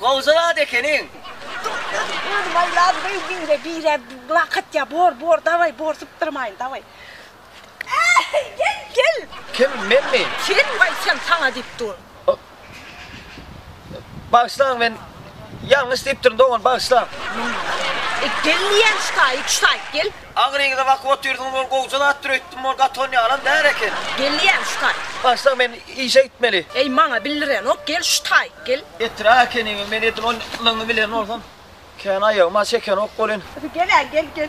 Gowja zat ekeniň. Özüm aýlap beý bire bire blakat ya bor bor daway bor sypdyrmaýyn daway. Äý gel gel. Kim menmi? Sen waý sen saňa diýip dur. Bagyşlaň men ýalňyş diýipdirin dogan bagyşlaň. Gel diýýän ştaýy ştaýy gel. Aňry yza bakyp otyrdyňyz ol gowja zatdyr öýtdüm ol gaty ony alan däl eken. Geldi ýäni şu taý. Başlyk men işe gitmeli. Eý maňa bildirenok gel şu taý gel. Etdirak ekeniňiz men edil on lygyňy bilen bolsam kän aýagyma çekenok bolyn. Gel-ä gel gel.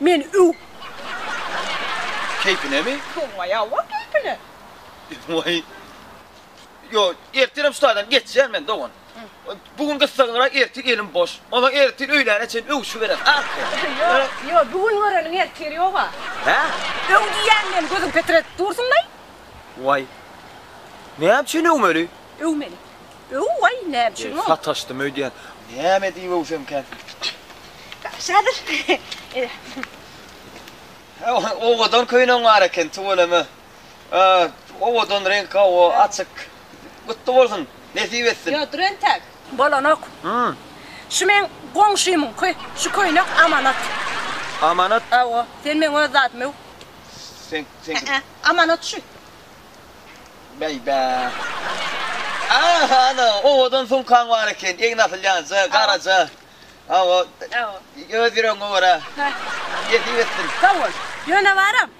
Men öw. Keýpinemi? Soňa ýawa keýpine. Waý. Ýo, ertirem şu taýdan geçýän men, dogan. Bu gün gyssaglyrak, ertir elim boş. Onsoň ertir öýläne çen öwüşiberem, a? Ýo, ýo, bu gün göreniň ertiri ýog-a. Hä? Öw diýýän men, gözüň petretip dursun-laý. Waý. Näme üçin öwmeli? Öwmeli. Öw-oý, näme üçin ol? Sataşdym öýdýän. Näme diýip öwsemkäň? Şadyr. Owadan köýnegiň bar eken, tüweleme. Owadan reňk, hawa, açyk. Gutly bolsun, nesip etsin. Ýodur entek. Bolanok. Şu meň goňşymyňky. Şu köýnek amanat. Amanat? Hawa, sen meň öz zadym, öw. Seňki. Ä-ä, amanat şu. Bäý-bä. Aha, ana, owadan sumkaň bar eken, egni asylýança, garaja. Hawa. Hawa. Öz ýüregiňe görä. Nesip etsin. Sag bol. Ýöne baram,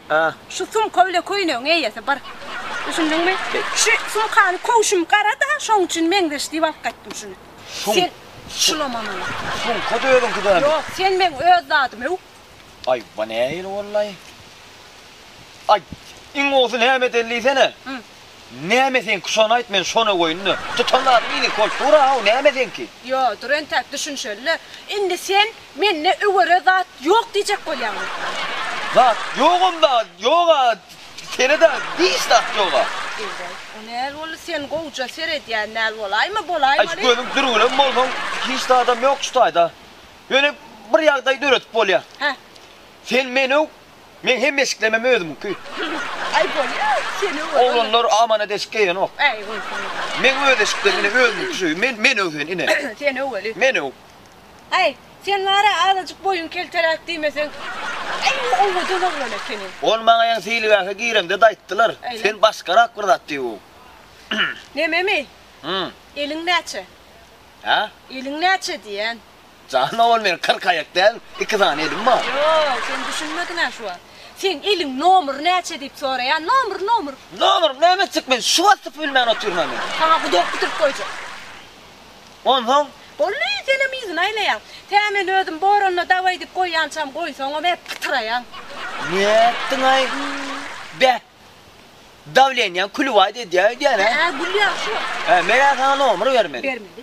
şu sumka bile köýnegiň eýesi bir. Düşündiňmi? Şu sumkany köwşüm gara-da, şoň üçin meňzeş diýip alyp gaýtdym şuny. Sen şulama maňa. Sumka-da özüňki däl. Ýok, sen meň öz zadym-ow. Aý, bu nähili bollaý? Aý, iň gowusy näme eden diýsene? Hü. Näme seňki, şony aýt, men şony goýun-da. Tutan zadyň iliňki bolup dur-a-ow, näme seňki? Ýo, dur entäk düşünişeli-le. Indi sen mende öwere zat ýok diýjek bolýaňmy? Zat ýogam-da, ýog-a, sene-de hiç zat ýog-a. Eý-we, o näl boldy, sen gowja seredýän näl bolaýma, bolaýmaly. Aý, gözüň dürgülem bolsun, hiç zadam ýok şu taýda. Ýöne bir ýagdaý döredip bolýar. Hä. Sen meni öw, Meň hemme eşiklemem özümiňki. Aý bolýa, seni öwren. Oglanlar amana deşik geýenok. Äý, bolsun. Meň öz eşiklerim ine özümiňki şu. Men, men öw seni, ine. Sen öw weli. Men öw. Aý, sen bar-a azajyk boýuň kelteräk diýmeseň. Äý, bu owadan oglan ekeni. Ony maňa ýene seýilgähe gireňde-de aýtdylar. Äýle. Sen başgarak bir zat diýip öw. Nememi? Hum. Eliň näçe? Hä? Eliň näçe diýýän. Jan owal meniň kyrk aýak däl, iki sany elim bar. Ýok, sen düşünmediň-ä şu wagt. Seň eliň nomry näçe diýip soraýan, nomry, nomry. Nomrym näme etjek men, şu wagtam bilmän otyryn-a men. Saňa gudak bitirip goýjak. Onsoň? Boldy, senem yzyna aýlaýaň. Tä men özüm boranda dawaý diýip goýýançam goýsaňam hep pytyraýaň. Nätdiň-aý? Be! Dawleniýaň külübaýda edýär öýdýän-ä. Hä, gülýäň şu wagt. Hä, men-ä saňa nomry bermeli. Bermeli.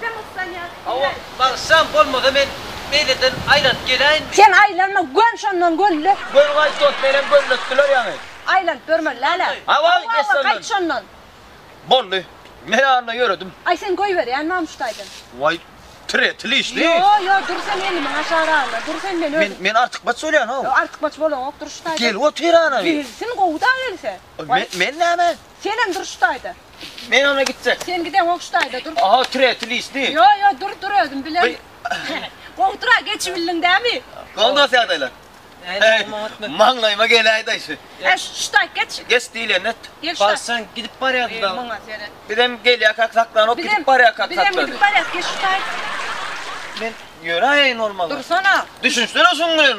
Sen ustan ýaly Hawa, eläý. Bagşam bolmasa men beýleden aýlanyp geläýinmi? Sen aýlanma, göm şondan gölle. Göni gaýt dost, menem gölletdiler ýaňy. Aýlanyp ýörme, läle. Hawa, geç şondan. Gaýt şondan. Boldy. Men anda ýöredim. Aý, sen goýberýänmi Amuşdaýdan? Waý, tiretil işli. Ýo, ýo, dur sen elimiň aşagyragynda dur sen, men özüm. Men artykmaç bolýan-ow. Artykmaç bolaňok, Durşytaýdan. Gelip otur ana. Gelsin, gowy-da gelse. Men näme? Senem dur şu taýda. Men ana gitjek. Sen gide gow şu taýda dur. Aha türe tülisti. Yo yo dur dur özüm bilen. Gow tura geçibildiň dämi. Gow dos ýagdaýlar. Maňlaýyma geläýdaý şu. He şu taý geç. Geç diýilende et. Gel şu taý. Barsaň gidip barýardy da. Muňa seret. Bizem gelýäkak saklanok gidip barýakak saklady. Bizem gidip barýak geç şu taý. Men ýöräýeýin bolmaly. Dursana. Düşünsene şuň bilen.